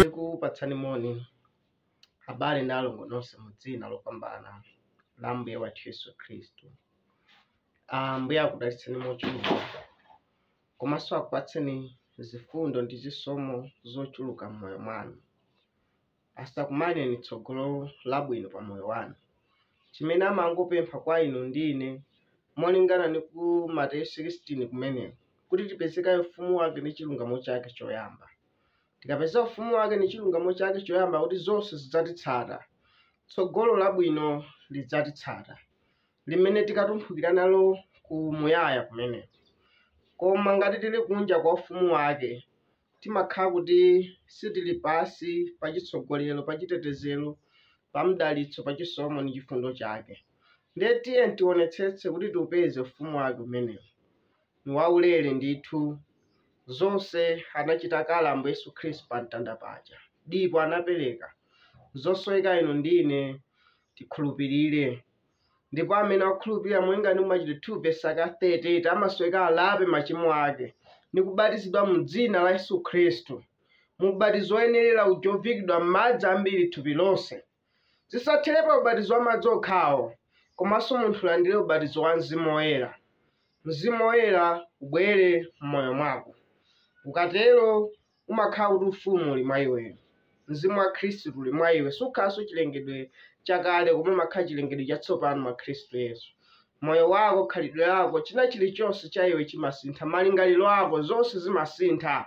tikupatsani moni abale ndi alongo nonse mu dzina lopambana la Ambuye wathu Yesu Khristu. Ambuye akudalitseni mochuluka komanso akupatseni zifundo ndi zisomo zochuluka m'moyo mwanu. asakumaneni tsogolo labwino pa moyo wanu. Chimene amangopempha kwa inu ndi ine, molingana ndi ku Mateyu 16 kumeneko, kuti tipeze kaye ufumu wake ndi chilungamo chake choyamba. Tikapeza ufumu wake ndi chilungamo chake choyamba kuti zonse zidzatitsata, tsogolo labwino lidzatitsata. limene tikatumphukira nalo ku muyaya kumeneko. Koma ngati tili kunja kwa ufumu wake, timakhala kuti sitili pansi pa chitsogolero, pa chitetezero, pa mdalitso, pa chisomo ndi chifundo chake. Ndiye tiyeni tionetsetse kuti tiupeze ufumu wake umenewu. Ni waulere ndithu, zonse anachita kale Ambuye Yesu Khristu pa mtanda paja. Dipo anapereka, zosoweka inu ndi ine tikhulupirire. ndipo amene akhulupirira molingana ndi machitidwe 2 vesi aka 38 amasoweka alape machimo ake ndi kubatizidwa mu dzina la yesu khristu mu ubatizo woyenelera uja oviikidwa m'madzi ambiri thupi lonse zisathere pa ubatizo wa madzi okhawo komanso munthu alandire ubatizo wa mzimu woyera mzimu woyera ubwere m'moyo mwako ukatero umakhala kuti ufumu uli mwa iweyo mzimu wa khristu uli mwa iwe sukhalanso chilengedwe chakale koma umakhala chilengedwe chatsopano mwa khristu yesu moyo wako khalidwe lako china chilichonse cha iwe chimasintha malingaliro ako zonse zimasintha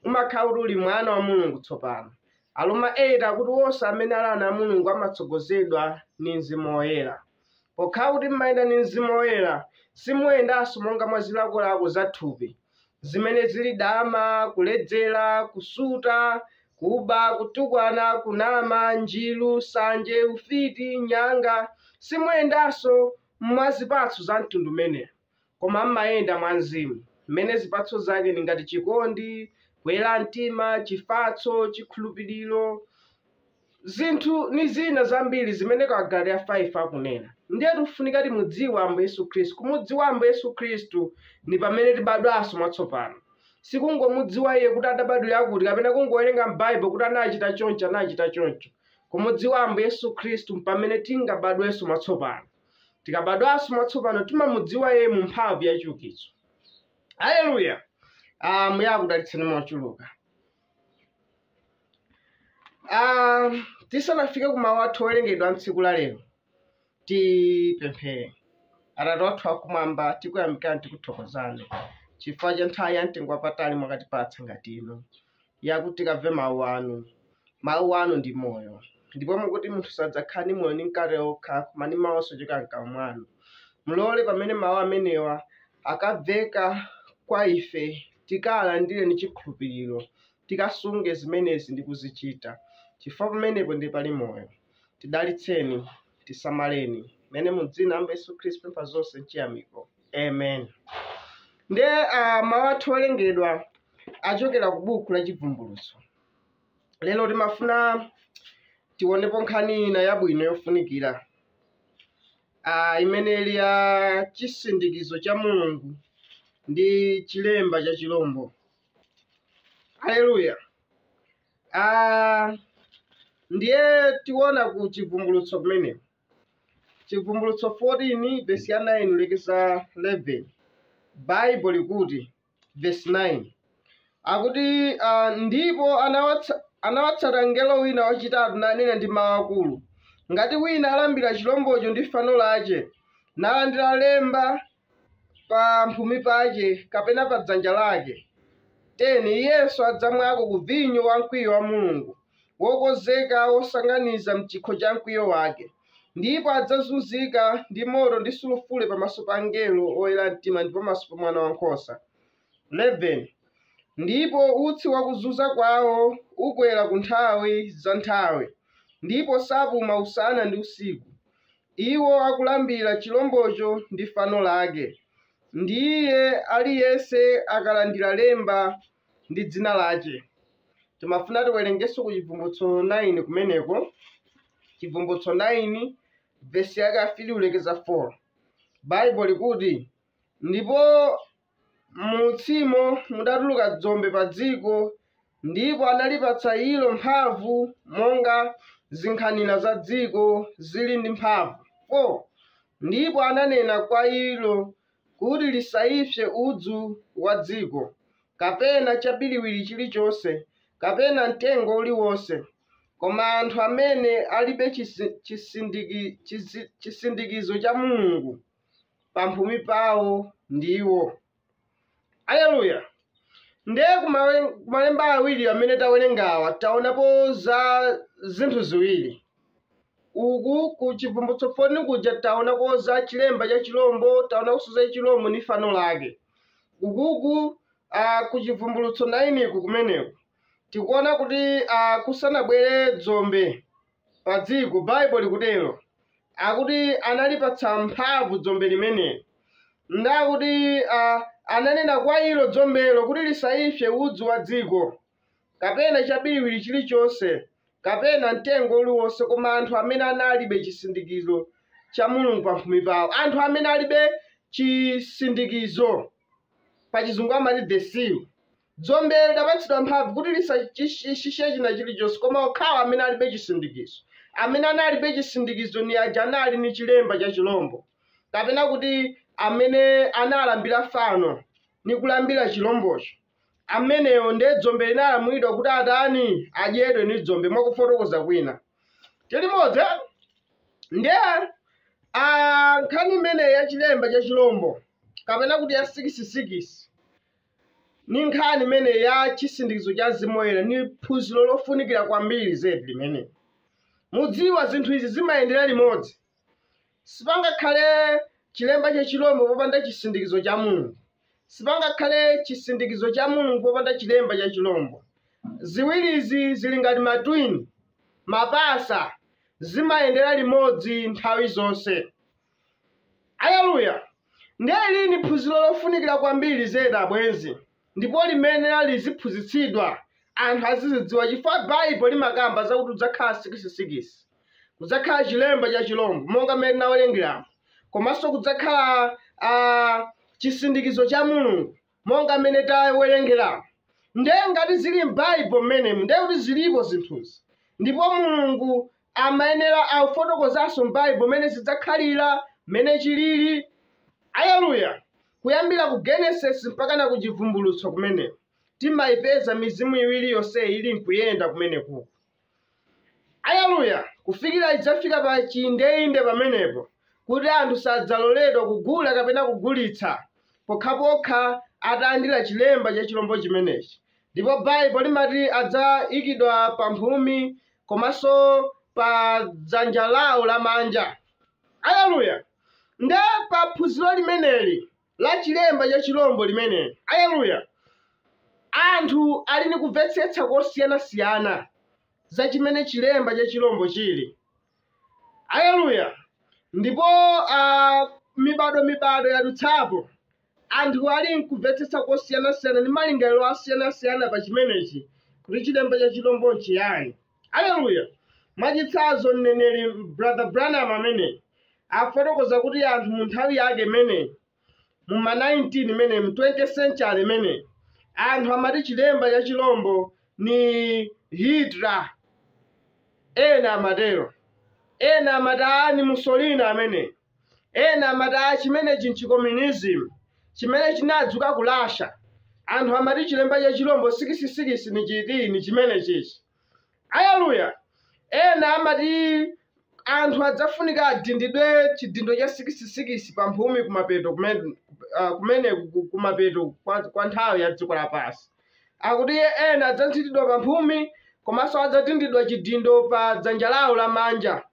umakhala kuti uli mwana wa mulungu tsopano aloma 8 akuti wonse amene ali ana a mulungu amatsogozedwa ndi mzimu woyera Pokhala kuti m'mayenda ndi Mzimu Woyera, simuyendanso monga mwa zilakolako za thupi, zimene zili dama, kuledzera, kusuta, kuba, kutukwana, kunama, njiru, nsanje, ufiti, nyanga. Simuyendanso mwa zipatso za mtundu umenewu. koma m'mayenda mwa Mzimu, m'mene zipatso zake ndi ngati chikondi, kuyera mtima, chifatso, chikhulupiriro, zinthu ni zina zambiri zimene kwa Agalatiya 5 akunena. Ndiye tifunika timudziwe Ambuye Yesu Khristu. Kumudziwa Ambuye Yesu Khristu ni pamene tibadwanso mwatsopano. Sikungomudziwa iye kuti adabadwira kuti kapena kungowerenga m'Baibulo kuti anachita choncho anachita choncho. Kumudziwa Ambuye Yesu Khristu mpamene tingabadwenso mwatsopano. Tikabadwanso mwatsopano timamudziwa iye mu mphamvu ya chiukitso. Haleluya! Ah, Mbuye akudalitseni mochuluka. Ah, tisanafike ku mawu athu owerengedwa a tsiku la lero, tipemphere. Atate wathu wakumwamba, tikuyamikani tikuthokozani chifukwa cha nthawi ya mtengo wapatali mwakatipatsa ngati ino. yakuti tikamve mawu anu. Mawu anu ndi moyo. Ndipo mukuti munthu sadzakhala ndi moyo ndi mkate wokha, koma ndi mawu onse ochokera m'kamwa mwanu. Mulole pamene mawu amenewa akamveka kwa ife, tikalandire ndi chikhulupiriro, tikasunge zimenezi ndi kuzichita, chifukwa pamenepo ndiye pali moyo. Tidalitseni, tisamaleni. Amene mu dzina la Ambuye Yesu Khristu pempha zonse m'chiyamiko. Amen. Nde uh, mawu athu owerengedwa achokera ku buku la Chivumbulutso. Lero timafuna tionepo nkhani ina yabwino yofunikira uh, imene ili ya chisindikizo cha Mulungu ndi chilemba cha chilombo. Haleluya. Uh, ndiye tiona ku chivumbulutso kumeneko Chivumbulutso 14 vesi ya 9 kulekeza 11 Bible likuti vesi 9 akuti uh, ndipo anawatsa, anawatsata mngelo wina wachitatu nanena ndi mawu akulu ngati wina alambira chilombocho ndi fano lache nalandira lemba pa mphumi pake, kapena pa dzanja lake, 10 iyenso adzamwako ku vinyo wa mkwiyo wa Mulungu, wokonzeka wosanganiza m'chikho cha mkwiyo wake, ndipo adzazunzika ndi moto ndi sulufure pamaso pa angelo oyera mtima, ndi pamaso pa Mwana wankhosa. 11 ndipo utsi wa kuzunza kwawo ukwera ku nthawi za nthawi, ndipo sapuma usana ndi usiku, Iwo akulambira chilombocho ndi fano lake, ndi iye aliyense akalandira lemba ndi dzina lache. Timafuna tiwerengenso ku Chibvumbulutso 9 kumeneko, Chibvumbulutso 9 vesi yake ya 3 kulekeza 4. Bible likuti, ndipo M'utsimo mudatuluka dzombe pa dziko, ndipo analipatsa ilo mphamvu, monga zinkhanira za dziko zili ndi mphamvu, 4 ndipo ananena kwa ilo kuti lisaipse udzu wa dziko, kapena chabiriwiri chilichonse, kapena mtengo uliwonse, koma anthu amene alibe chisindikizo cha Mulungu. pamphumi pawo ndiwo aleluya ndiye kumale- kumalemba awiri amene tawerengawa taonapo za zinthu ziwiri uku ku chivumbulutso 14 kuja taonako za chilemba cha chilombo taonakonso za chilombo ndi fano lake ukuku ah, ku chivumbulutso 9 ku kumeneko tikuona kuti ah, kusanabwere dzombe pa dziko baibo likutero akuti analipatsa mphamvu dzombe limeneli ndakuti uh, ananena kwa ilo dzombelo kuti lisaipse udzu wa dziko kapena chabiriwiri chilichonse kapena mtengo uliwonse koma anthu amene analibe chisindikizo cha mulungu pamphumi pawo anthu amene alibe chisindikizo pa chizungu amati the seal Dzombe lidapatsidwa mphamvu kuti lisachite china chilichonse koma okhawo amene alibe chisindikizo. Amene analibe chisindikizo ni aja anali ni chilemba cha chilombo, kapena kuti amene analambira fano ni kulambira chilombocho. Amenewo ndiye dzombe linalamulidwa kuti atani? Adyedwe ni dzombe, mwa kufotokoza kwina. Tili modzi? eh? Ndiye ah, nkhani imeneyi ya chilemba cha chilombo kapena kuti ya sikisikisi ni nkhani imene ya chisindikizo cha mzimu woyera ni phunziro lofunikira kwambiri zedi limene mudziwa zinthu izi zimayendera limodzi sipangakhale chilemba cha chilombo popanda chisindikizo cha mulungu sipangakhale chisindikizo cha mulungu popanda chilemba cha chilombo ziwirizi zili ngati matwini mapasa zimayendera limodzi nthawi zonse Aleluya! Ndiye ili ni phunziro lofunikira kwambiri zedi abwenzi, ndipo limayenera liziphunzitsidwa, anthu azizidziwa chifukwa Baibo limakamba zakuti kudzakhala sikisi-sikisi, kudzakhala chilemba cha chilombo monga mmene tinawerengeramu, komanso kudzakhala a chisindikizo cha Mulungu. monga mmene tawerengeramu nde ngati zili m'baibo mmenemu nde kuti zilipo zinthuzi ndipo mulungu amayenera afotokozanso m'baibo mmene zidzakhalira mmene chilili aleluya kuyambira ku genesis mpakana ku chivumbulutso kumeneko timayipeza mizimu iwiri yonseyi ili nkuyenda kumenekuku Aleluya! Kufikira idzafika pa chiindeinde pamenepo, kuti anthu sadzaloledwa kugula kapena kugulitsa, pokhapokha atalandira chilemba cha chilombo chimenechi, ndipo Baibulo limati adzaikidwa pa mphumi komanso pa dzanja lawo lamanja. Aleluya! Ndiye pa phunziro limeneli, la chilemba cha chilombo limeneli. Aleluya! Anthu ali ni kumvetsetsa kosiyana-siyana za chimene chilemba cha chilombo chili. Aleluya! Ndipo ah, mibado-mibado yadutsapo, anthu ali nkumvetsetsa kosiyana-siyana ndi malingaliro asiyana-siyana pa chimenechi kuti chilemba cha chilombo nchiyani. aleluya mwachitsanzo mneneri brother branham amene afotokoza kuti anthu mu nthawi yake imene mu ma 19 imene mu 20th century imene anthu amati chilemba cha chilombo ni hitler ena amatero ena amati aa ni mussolini amene Ena amati aa chimenechi n'chikomyunizimu chimene chinadzuka ku Russia. Anthu amati chilemba cha chilombo sikisi-sikisi ni chiti? Ni chimenechichi. Aleluya! Ena amati anthu adzafunika adindidwe chidindo cha sikisi-sikisi pamphumi kumapeto kumen- ah, kumeneku ku- kumapeto kwa, kwa nthawi ya dziko lapansi. Akuti ena adzadindidwa pamphumi komanso adzadindidwa chidindo pa dzanja lawo lamanja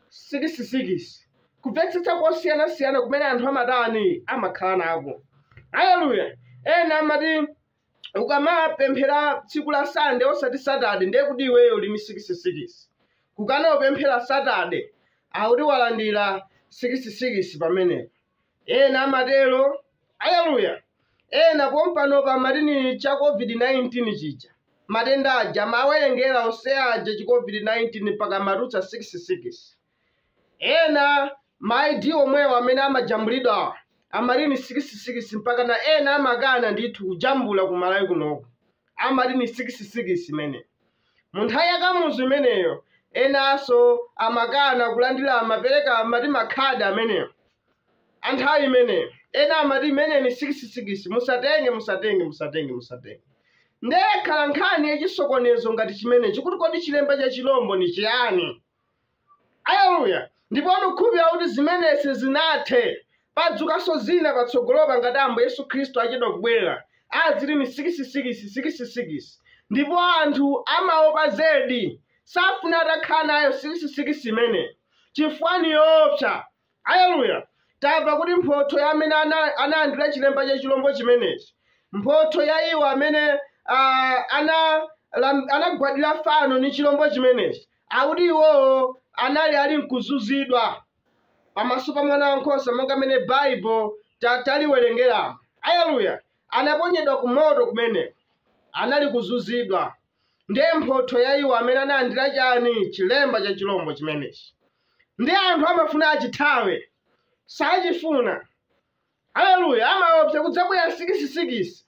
sikisikisi kumvetsetsa kosiyanasiyana kumene anthu amatani amakhala nako aleluya ena amati ukamapemphera tsiku la sande osati satade ndiye kuti iweyo uli ni sikisikisi kukana upemphera satade akuti walandira sikisikisi pamenepo ena amatero aleluya ena pompanopa amati ni cha covid-19 chija matenda aja amawerengera onse aja chi covid-19 mpaka amatulutsa 66 ena ma id omwewo amene amajambulidwa amati ni 66 mpakana ena amakana ndithu kujambula ku malawi kunoko amati ni 66 imene Mu nthawi ya Kamuzu imeneyo, enanso amakana kulandira amapereka amati makhadi amenewo a nthawi imeneyo. Ena amati imene ni sikisi-sikisi, musatenge, musatenge, musatenge, musatenge. Ndiye yakhala nkhani ya chisokonezo ngati chimenechi kuti kodi chilemba cha chilombo ni chiyani? Aleluya! Ndipo ndikukhulupirira kuti zimenezi sizinathe. Padzukanso zina patsogolopa ngati Ambuye Yesu Khristu achedwa kubwera. Aziti ni sikisi-sikisi, sikisi-sikisi. Ndipo anthu amaopa zedi, safuna atakhala nayo sikisi-sikisi imeneyo, chifukwa ni yoopsa. Aleluya! Tamva kuti mphotho ya amene ana- analandira chilemba cha chilombo chimenechi, mphotho ya iwo amene ah, ana- lam- anagwadira fano ni chilombo chimenechi, akuti iwowo anali ali nkuzunzidwa pamaso pa mwana wankhosa monga amene Baibo ta- taliwerengeramo. Aleluya! Anaponyedwa ku moto kumeneko, anali kuzunzidwa. ndiye mphotho ya iwo amene analandira chani chilemba cha chilombo chimenechi ndiye anthu amafuna achithawe sachifuna aleluya amaopsa kudzabwera sikisisikisi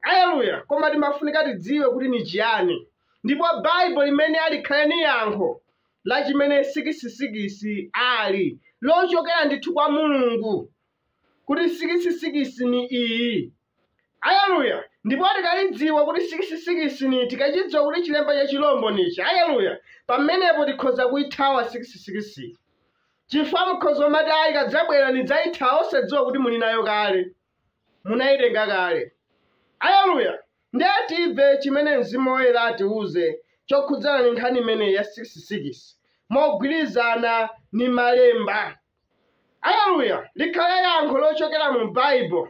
aleluya koma timafunika tidziwe kuti ni chiyani ndipo baibulo limene alikhale ni yankho la chimene sikisisikisi ali lochokera ndithu kwa mulungu kuti sikisisikisi ni iyi Aleluya! Ndipo tikalidziwa kuti sikisi-sikisi ni, tikacidziwa kuti cilemba ca cilombo nici, aleluya, pamenepo tikhoza kuithawa sikisi-sikisiyo. Cifukwa mukhoza kumati, Ayi, ikadzabwela nidzaithawa, osadziwa kuti muli nayo kale. Munaitenga kale. Aleluya! Ndiye timve cimene Mzimu Woyela atiuze cokhudzana ni nkhani imeneyi ya sikisi-sikisi, mogwilizana ni Malemba. Aleluya! Likhale yankho locokela mu Baibulo.